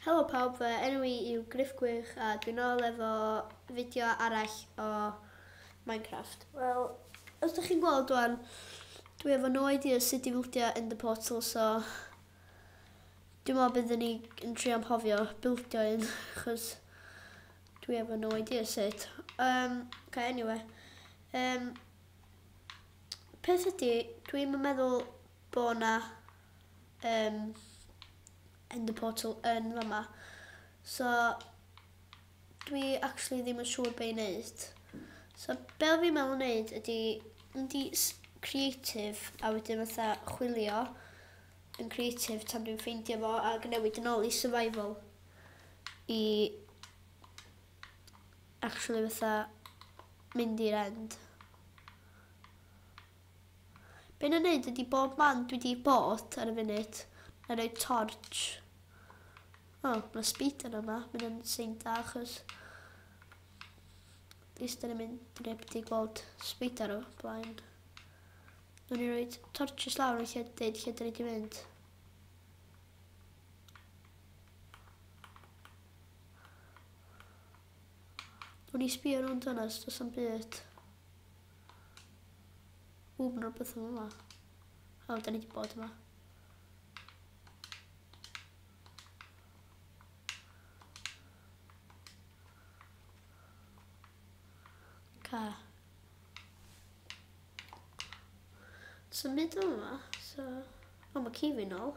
Helo pawb, fy enw i yw Griff Gwych a dwi'n nôl efo fideo arall o Minecraft. Wel, os ydych chi'n gweld rwan, dwi efo no idea sut i bildio in the portal, so dwi'n meddwl byddwn ni yn trio amhofio bildio un, chos dwi efo no idea sut. Um, okay, anyway. Um, peth ydi, dwi'm yn meddwl bod yna um, Ender Portal yn fama. So, dwi actually ddim yn siŵr beth i wneud. So, be fi'n meddwl wneud ydi, mynd i creative a wedyn fatha chwilio yn creative tan dwi'n ffeindio fo a newid yn ôl i survival i actually fatha mynd i'r end. Be na neud ydi bob man dwi di bod ar y funud, na roi torch. O, oh, mae speeder yma, mynd yn sy'n da achos eistedd yn mynd drip di gweld speeder o blaen. Nw'n i roi torches lawr yn lle deud lle dyn ni di mynd. O'n i sbio nhw'n dynas, does am byd. Ww, mae'n rhywbeth yn yma. O, da ni wedi bod yma. Ca. Does am byd yn yma, so... O, mae ci fi'n ôl.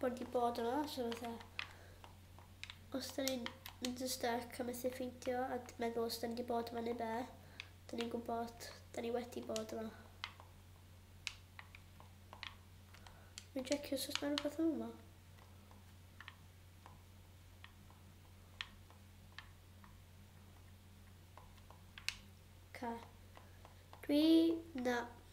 Bod di bod yma, so fatha... Os da ni'n mynd yn stuck a methu ffeindio a meddwl os da ni wedi bod yma neu be, da ni'n gwybod, da ni wedi bod yma. Mi'n checio os oes na rhywbeth yn yma. Dwi... Na,